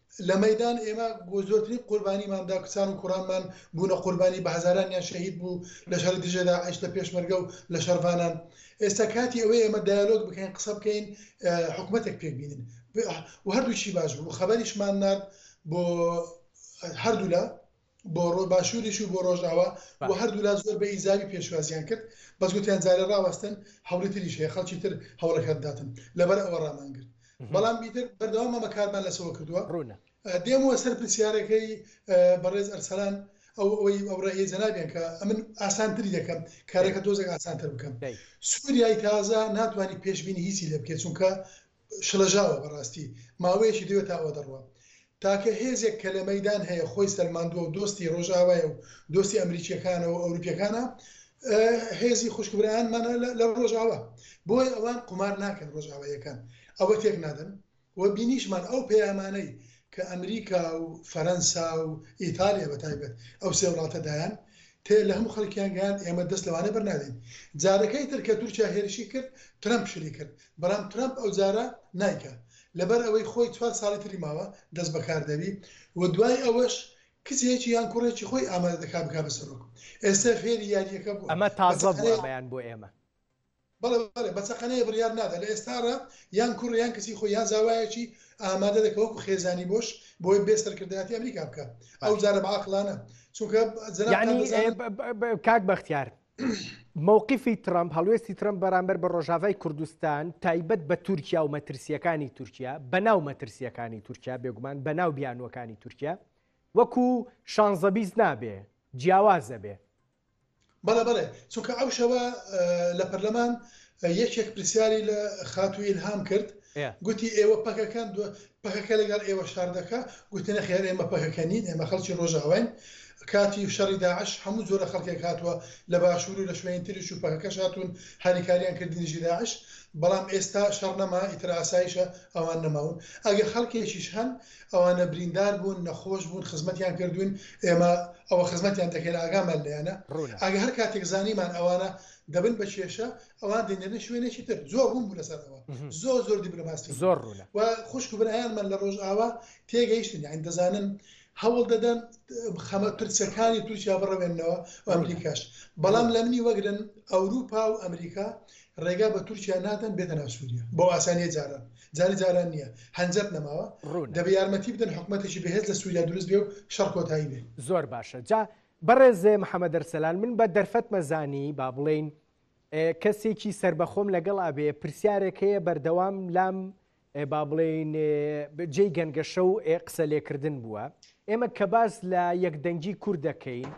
لە مەیدان ئێمە زۆرترین قوربانیمان دا، کچان و کوڕانمان بوونە قوربانی، بە هەزارانیان شەهید بوو لە شەڕی دژە داعش، لە پێشمەرگە و لە شەڕڤانان. ئێستا کاتی ئەوەیە ئێمە دایەلۆگ بکەین، قسە بکەین، حکومەتێک پێک بینین و هەردووکیشی باش بوو. خەبەریشمان نارد بۆ هەردوولا. بۆ ڕۆ باشووریش و بۆ ڕۆژاوا و بەڵێ. هەردوولا زۆر بە ئیجابی پێشوازیان کرد، بەس گوتیان جارێ ڕاوەستن هەوڵی تریش هەیە خەڵکی تر هەوڵێکە بداتن، لەبەر ئەوە ڕامان گرت. بەڵام ئیتر بەردەوام مامە کاروان لەسەوە کردووە. ڕوونە. دێمەوە سەر پرسیارەکەی بەڕێز ئەرسەلان ئەو ئەوەی ئەو ڕەئیە جەنابیان کە ئەمن ئاسانتری دەکەم کارەکە تۆزێک ئاسانتر بکەم. دەی. سووریای تازە ناتوانیت پێشبینی هیچی لێ بکەیت چونکە شڵەژاوە بەڕاستی ماوەیەکی درێ تا ئەوە دەڕوا تاکە هێزێک کە لە مەیدان هەیە خۆی سەلماندووە و دۆستی ڕۆژئاوایە و دۆستی ئەمریکییەکانە و ئەوروپییەکانە هێزی خوشکبرایانمانە لە ڕۆژئاوا بۆی ئەوان قومار ناکەن ڕۆژئاواییەکان ئەوە تێک نادەن و بینیشمان ئەو پەیامانەی کە ئەمریکا و فەرەنسا و ئیتالیا بە تایبەت ئەو سێ وڵاتە دایان تێ لە هەموو خەڵکیان گەیان ئێمە دەست لەوانە بەرنادەین جارەکەی تر کە تورکیا هێرشی کرد ترەمپ شلی کرد برام ترەمپ ئەو جارە نایکا لەبەر ئەوەی خۆی چوار ساڵی تری ماوە دەست بەکار دەبی و دوای ئەوەش کچێکی یان کوڕێکی خۆی ئامادە دەکا بکا بە سەرۆک ئێستا فێری یاریەکە بوە ئەمە تازە بوە ئەمەیان بۆ ئێمە. بەڵێ بەڵێ بە چەقەنەیە بڕیار نادا لە ئێستاڕا یان کوڕ یان کچی خۆی یان زاوایەکی ئامادە دەکە وەکو خێزانی بۆش بۆی بێ سەرکردایەتی ئەمریکا بکە ئەو جارە بە عاقلانە چونکە زەنا یانی بە- ئێ، ب- ب- ب- کاک بەختیار مەوقیفی ترەمپ، هەڵوێستی ترەمپ بەرامبەر بە ڕۆژاڤای کوردستان تایبەت بە تورکیا و مەترسییەکانی تورکیا، بەناو مەترسییەکانی تورکیا بێگومان بەناو بیانووەکانی تورکیا وەکوو شانزە بیست نابێ جیاوازە بێ. بەڵێ بەڵێ چونکە ئەو شەوە لە پەرلەمان یەکێک پرسیاری لە خاتوو ئیلهام کرد گوتی ئێوە پەکەکەن پەکەکە لەگەڵ ئێوە شەڕ دەکا، گوتی نەخێر ئێمە پەکەکە نین ئێمە خەڵکی ڕۆژئاواین، کاتی شەڕی داعش هەموو جۆرە خەڵکێک هاتووە لە باشوور و لە شوێنی تریش و پەکەکەش هاتوون هاریکاریان کرد دژی داعش، بەڵام ئێستا شەڕ نەما ئیتر ئاسایشە ئەوان نەماون ئەگەر خەڵکێکیش هەن ئەوانە بریندار بوون نەخۆش بوون خزمەتیان کردووین ئێمە ئەوە خزمەتیان دەکەین ئاگامان لێیانە ئەگەر هەر کاتێک زانیمان ئەوانە دەبن بە کێشە ئەوان دەینێنە شوێنێکی تر زۆر ڕوون بوو لەسەر ئەوە زۆر زۆر دیبلۆماسی زۆر ڕوونە و خوشک و برایانمان لە ڕۆژئاوا تێگەیشتن یان دەزانن هەوڵ دەدەن خەمە پرسەکانی تورکیا بڕەوێنەوە و ئەمریکاش بەڵام لە منی وەگرن ئەوروپا و ئەمریکا ڕێگا بە تورکیا نادەن بێتە ناسووریە بۆ ئاسانیە جاران جاری جاران نییە هەنجەت نەماوە دەبێ یارمەتی بدەن حکوومەتێکی بەهێز لە سووریا دروست بێ و شەڕ کۆتایی بێ زۆر باشە جا بەڕێزێ محەممەد دەرسەلان من بە دەرفەتمە زانی با بڵین کەسێکی سەربەخۆم لەگەڵ ئەبێ پرسیارێک هەیە بەردەوام لام با بڵێین جێی گەنگەشە و قسە لێکردن بووە ئێمە کە باس لە یەکدەنگی کورد دەکەین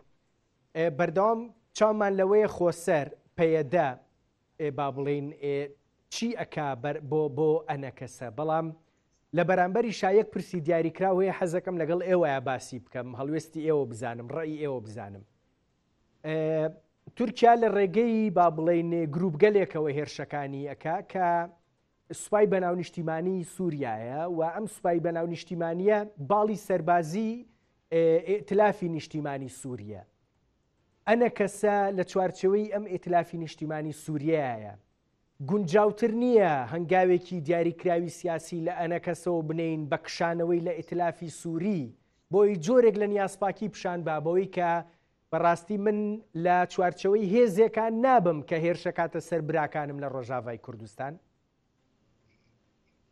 بەردەوام چامان لەوەیە خۆسەر پەیەدە با بڵێین چی ئەکا بۆ بۆ ئەنەکەسە بەڵام لە بەرامبەری شایەک پرسی دیاریکراوەیە حەزەکەم لەگەڵ ئێوەیە باسی بکەم هەڵوێستی ئێوە بزانم ڕێی ئێوە بزانم تورکیا لە ڕێگەی با بڵین گروپگەلێکەوە هێرشەکانی ئەکا کە سوپای بەناو نیشتیمانی سووریایە و ئەم سوپای بەناو نیشتیمانیە باڵی سەربازی ئتلافی نیشتیمانی سووریە ئەنە کەسە لە چوارچەوەی ئەم ئتلافی نیشتیمانی سووریایە گونجاوتر نییە هەنگاوێکی دیاریکراوی سیاسی لە ئەنەکەسەوە بنێین بە کشانەوەی لە ئیتلافی سووری بۆی جۆرێک لە نیازپاکی پیشان بە بەوەی کە بە ڕاستی من لە چوارچەوەی هێزێکە نابم کە هێرشەکاتە سەر براکانم لە ڕۆژاڤای کوردستان؟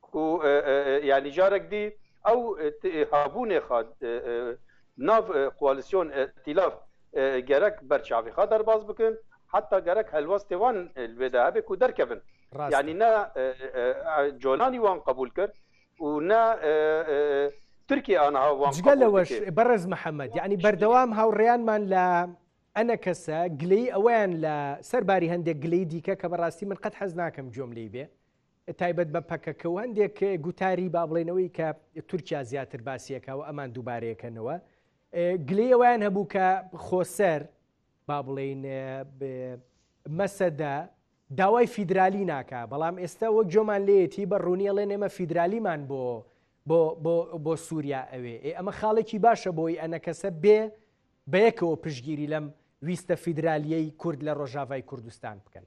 کو یانی جارەک دی ئەو هابوونێ خا ناڤ قوالیسیۆن ئئتیلاف گەرەک بەرچاڤی خا دەرباز بکن حەتا گەرەک هەلوەستێ وان لوێدا هەبێ کو دەرکەڤن یانی نە جۆلانی وان قەبوول کرد و نە ترکیە ئانها وان قەبوول کرد. جگە لەوەش بەڕێز محەمەد یانی بەردەوام هاوڕێیانمان لە ئەنەکەسە گلەیی ئەوەیان لە سەر باری هەندێک گلەیی دیکە کە بەڕاستی من قەت حەز ناکەم گوێم لێی بێ تایبەت بە پەکەکە و هەندێک گوتاری با بڵێنەوەی کە تورکیا زیاتر باسیەکە و ئەمان دووبارەیەکەنەوە گلەی ئەویان هەبوو کە خۆسەر با بڵێین مەسەدا داوای فیدرالی ناکە بەڵام ئێستا وەک جۆمان لێتی بە ڕوونیەڵێ نێمە فیدرالیمان بۆ بۆ سووریا ئەوێ ئێ ئەمە خاڵێکی باشە بۆی ئەنەکەسە بێ بەیەکەوە پشگیری لەم ویستە فیدرالیەی کورد لە ڕۆژاڤای کوردستان بکەن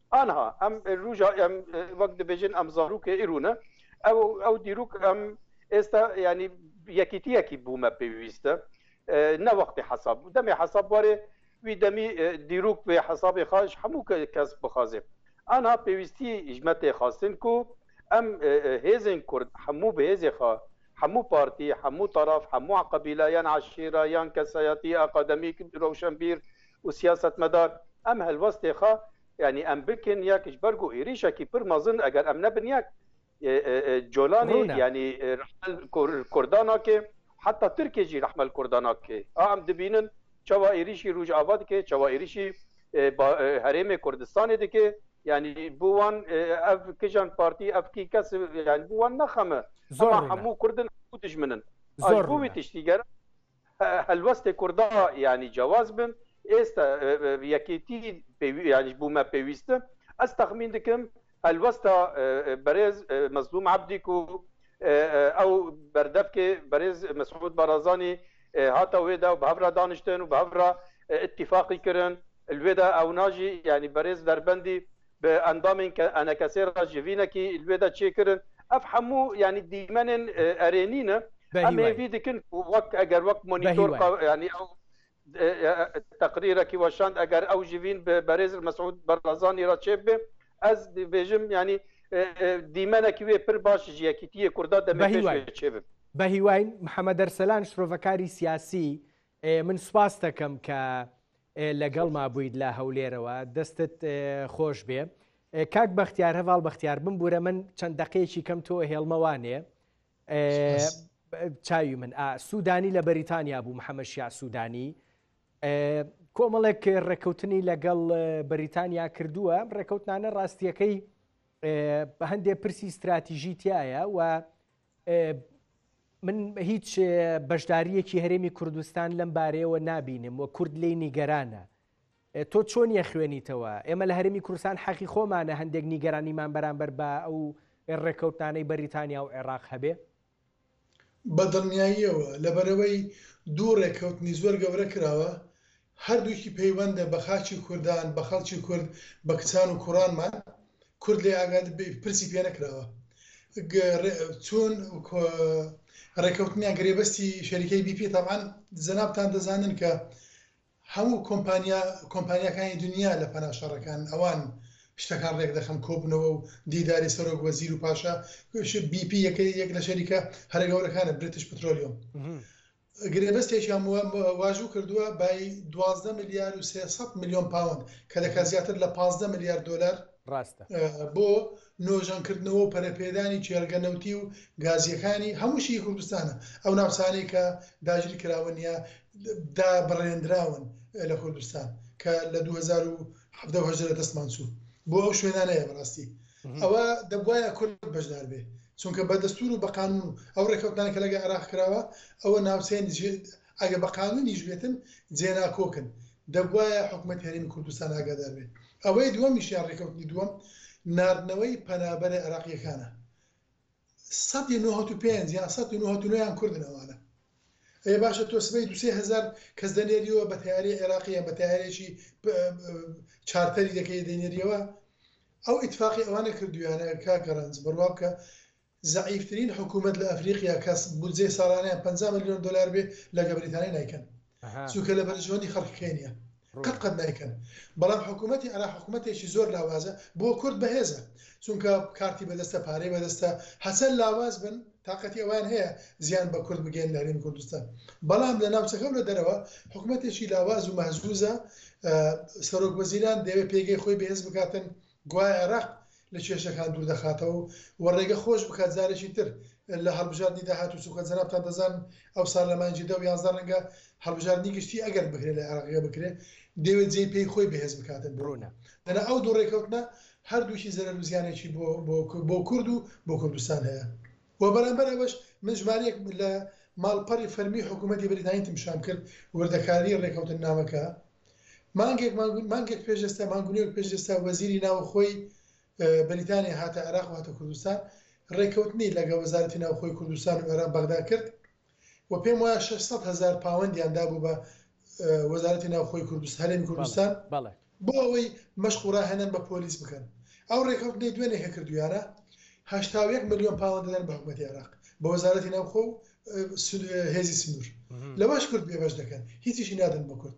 ئانها ئەم روژا ئەم وەک دەبێژن ئەم زارروکە ئیرونە ئەو ئەو دیروک ئەم ئێستا ینی یەکیتیەکی بوومە پێویستە نەوەختی حساب دەمێ حساب بارێ وی دەمی دیروک بێ حسابێ خاش هەموو کەس بخوازێ ئانا پێویستی ژمەتێ خواستن کو ئەم هێزن کورد هەموو بەهێزێ خوا هەموو پارتی هەموو تەرەف هەموو قبیلە یان عشیرە یان کەسایەتی ئاقادەمی رەوشەنبیر و سیاسەتمەدار ئەم هەلوەستێ خا یانی ئەم بکن یەکش بەرگ و ئیریشەکی پر مەزن ئەگەر ئەم نەبن یەک جۆلانی ڕوونە یانی رەحمەل کور کوردا ناکێ حەتا ترکێ ژی رەحمەل کوردا ناکێ ئا ئەم دبینن چەوا ئیریشی رووژئاڤا دکێ چەوا ئیریشی با هەرێمێ کوردستانێ دکێ یانی بو وان ئەڤ کژان پارتی ئەڤ کی کەس یانی بو وان نەخەمە زۆر ئەما ڕوونە هەموو کوردن هەموو دژمنن ئاش زۆر بووی ڕوونە تشتیگەرا هەلوەستێ کوردا یانی جواز بن ئێستا یەکێتی یانیش بوومە پێویستە ئەس تەخمین دکم هەلوەستا بەرێز مەزلوم عبدیک و ئەو بەردەفکێ بەرێز مەسعود بەڕازانی هاتە وێدا و بەهەورا دانیشتن و بەهەورا اتفاقی کرن الوێدا ئەو ناژی یعنی بەرێز دەربەندی بە ئەندامێن کە ئەنەکەسێ را ژڤینە کی ئلوێدە چێ کرن، ئەڤ هەموو یانی دیمەنێن ئەرێنی نە، بە ئەم هیوای. هێڤی دکن ک وەک ئەگەر وەک بە مۆنیتۆر هیوای. قە یانی ئەو تەقریرە کی وەشاند ئەگەر ئەو ژڤین بە بەرێز ر مەسعود بەڕزانی را چێ ببێ، ئەز ڤێژم یانی دیمەنە کی وێ پر باش ژ یەکیتیێ کوردا دەمێ بە پێش هیوای. وێ چێ ببێ. بە هیواین. محمد ئەرسەلان شرۆڤەکاری سیاسی، من سوپاستە کەم کە لەگەڵما بوویت لە هەولێرەوە دەستت خۆشبێ کاک بەختیار هەڤاڵ بەختیار بمبورە من چەند دقەیەکی کەم تۆ هێڵمە وانێ چاوی من سوودانی لە بەریتانیا بوو محەممەشیا سوودانی کۆمەڵێک ڕێککەوتنی لەگەڵ بەریتانیا کردووە ڕێککەوتنانە ڕاستیەکەی بە هەندێ پرسی استراتیژی تایە و من هیچ بەشدارییەکی هەرێمی کوردستان لەم بارەیەوە نابینم و کورد لی نیگەرانە تۆ چۆن یە خوێنیتەوە ئێمە لە هەرمی کورسان حەقی خۆمانە هەندێک نیگەرانیمان بەرامبەر بە ئەو ڕێکەوتانەی بەریتانیا و عێراق هەبێ بە دڵنیاییەوە لەبەرەوەی دوو ڕێکەوتنی زۆر گەورە کراوە هەردووکی پەیوەندە بە خاکی کوردان، بە خەڵکی کورد، بە کچان و کوڕانمان، کورد لێ ئاگا پرسی پێ نەکراوە چوون ڕێکەوتنیان گرێبەستی شەریکەی بی پی تەبعەن جەنابتان دەزانن کە هەموو کۆمپانیا کۆمپانیاکانی دنیا لە پەنا شەڕەکان ئەوان شتەکان ڕێک دەخەن کۆبنەوە و دیداری سەرۆک وەزیر و پاشا بی پی یەکەی یەک لە شەریکە هەرە گەورەکانە برتش پترۆلیۆم گرێبەستێکیان واژوو کردووە بای دوازدە ملیار و سێ سەد ملیۆن پاوەند کە دەکات زیاتر لە پازدە ملیار دۆلار بۆ نۆژەنکردنەوە و پەرەپێدانی کێڵگە نەوتی و گازییەکانی هەموو شی کوردستانە ئەو ناوچانەی کە داگیرکراون یا دابڕێندراون لە کوردستان کە لە دوو هەزار و حەڤدە و هەژدە لە دەستمان چوو بۆ ئەو شوێنانەیە بەڕاستی ئەوە دەبواە کورد بەشدار بێ چونکە بە دەستور و بە قانون و ئەو ڕێکەوتان کە لەگە عراق کراوە ئەوە ناوچەیان ئەگە بە قانونیش بێتن جێناکۆکن دەبواە حکومت هەرێمی کوردستان ئاگادار بێت ئەوەی دووەمیشیان ڕێکەوتنی دووەم نردنەوەی پەنابەرە عراقیەکانە سەد و نەوەت و پێنج یان سەد و نەوەت و نۆ یان کوردن ئەوانە ئەی باشە تۆ سبەی دوو سێ هەزار کەس دەنێریەوە بە تەیارەی عێراقی یان بە تەیارێکی چارتەری دەکەی دەینێریەوە ئەو ئیتفاقی ئەوانە کردویانە کاکە ڕەنج بڕوا بکە زەعیفترین حکوومەت لە ئەفریقیا کەس بودجەی ساڵانیان 50 ملیۆن دلار بێ لەگە بریتانی نیکەن چونکە لە بەرژەوەندی خەڵکی خێ نیە قەت قەت نایکەن بەڵام حکوومەتی عێراق حکوومەتێکی زۆر لاوازە بۆ کورد بەهێزە چونکە کارتی بەدەستە پارەی بەدەستە هەچەند لاواز بن تااقەتی ئەوان هەیە زیان بە کورد بگەن لە هەرێمی کوردستان بەڵام لە ناوچەکە و لە دەرەوە حکوومەتێکی لاواز و مەهزوزە سەرۆک وەزیران دەوێت پێگەی خۆی بەهێز بکاتن گوایە عێراق لە کێشەکان دوور دەخاتەوە و ڕێگە خۆش بکات جارێکی تر لە هەڵبژاردنی داهاتوو چونکە جەنابتان دەزانن ئەوسال لە مانگی دە و یازدە ڕەنگە هەڵبژاردنی گشتی ئەگەر بکرێت لە عێراقییە بکرێت دەیەوێت جێی پێی خۆی بەهێز بکاتن بۆ ئەوە دەنا ئەو دوو ڕێکەوتنە هەردووکی زەرەر و زیانێکی بۆ بۆ کورد و بۆ کوردستان هەیە. وە بەرامبەر ئەوەش من ژمارەیەک لە ماڵپەڕی فەرمی حکوومەتی بەریتانیتم پیشان کرد وردەکاریی ڕێکەوتننامەکە مانگێک مانگێک پێش ئێستا مانگ و نێوێک پێش ئێستا وەزیری ناوخۆی بەریتانیا هاتە عێراق و هاتە کوردستان ڕێکەوتنی لەگە وەزارەتی ناوخۆی کوردستان و عێراق بەغدا کرد و پێم وایە شەش سەد هەزار پاوەندیان دابوو بە وەزارەتی ناوخۆی کوردستان هەرێمی کوردستان بۆ ئەوەی مەشق و ڕاهێنان بە پۆلیس بکەن ئەو ڕێکەوتنەی دوێنێ کە کردویانە هەشتا و یەک ملیۆن پاوەند دەدەن بە حکومەتی عێراق بە وەزارەتی ناوخۆ و هێزی سنوور لەوەش کورد بێبەش دەکەن هیچیشی نادەن بە کورد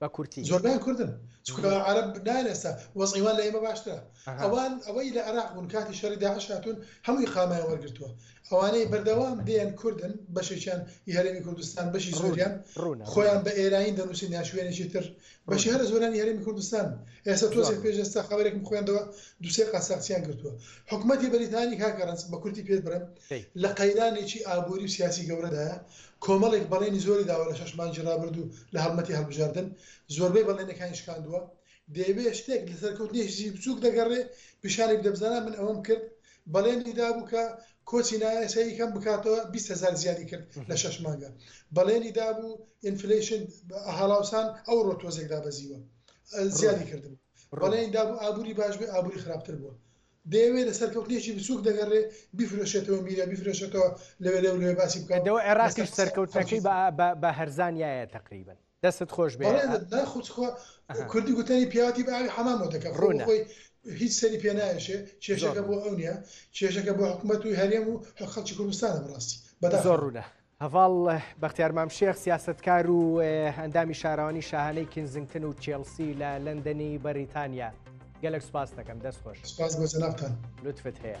بە کورتی. زۆربەیان کوردن چونکە عەرەب نایەن ئێستا وەزعی وان لە ئێمە باشترە ئەوان ئەوەی لە عێراق بوون کاتی شەڕی داعش هاتوون هەموو ئیقامەیان وەرگرتووە ئەوانەی بەردەوام دێن کوردن بەشێکیان ی هەرێمی کوردستان بەشی زۆریان خۆیان بە ئێراین دەنووسن یان شوێنێکی تر بەشی هەرە زۆرانی هەرێمی کوردستان ئێستا تۆزێک پێش ئێستا خەبەرێکم خوێندەوە دوو سێ قاساقچیان گرتووە حکومەتی بەریتانی کاکە ڕەنج بە کورتی پێت برم لە قەیرانێکی ئابووری و سیاسی گەورەدایە کۆمەڵێک بەڵێنی زۆری داوە لە شەش مانگی رابردوو لە هەڵمەتی هەڵبژاردن، زۆربەی بەڵێنەکانی شکاندووە، دەیەوێت شتێک لە سەرکەوتنێکیی بچووک دەگەڕێ پیشانی بدە، بزانە من ئەوەم کرد، بەڵێنی دابوو کە کۆچی نایاسایی کەم بکاتەوە، بیست هەزار زیادی کرد لە شەش مانگە، بەڵێنی دابوو ئینفلەیشن، هەڵاوسان ئەوڕۆ تۆزێک دابەزیوە، زیادی کردبوو، بەڵێنی دابوو ئابووری باش بێ، ئابووری خراپتر بووە. دەیەوێ لە سەرکەوتنێکی بچووک دەگەڕێ بیفرۆشێتەوە میرە بیفرۆشێتەوە لەوێ لەو لەوێ باسی بکا و دەوە عێراقیش لەسەر قسە سەرکەوتنەکەی خەڵکی بە بە هەرزان یایە تەقریبەن دەستت خۆش بێ بەڵێ ئە نا خۆ چخۆ ئەها کوردی گوتەنی پیاوەتی بە ئاوی حەمامەوە دەکا خۆ بۆ ڕوونە خۆی هیچ سەری پێ نایەشێ زۆر کێشەکە بۆ ڕوونە ئەو نیە کێشەکە بۆ حکومەت و هەرێم و حە خەڵکی کوردستانە بەڕاستی زۆر بەداخەوە. ڕوونە هەڤاڵ بەختیار مامشێخ سیاسەتکار و ئەندامی شاراوانی شاهانەی کینزنگتن و چێڵسی لە لەندەنی بەریتانیا گەلک سپاس دەکەم دەست خۆش سپاس بۆ جەنابتان لوتفت هەیە.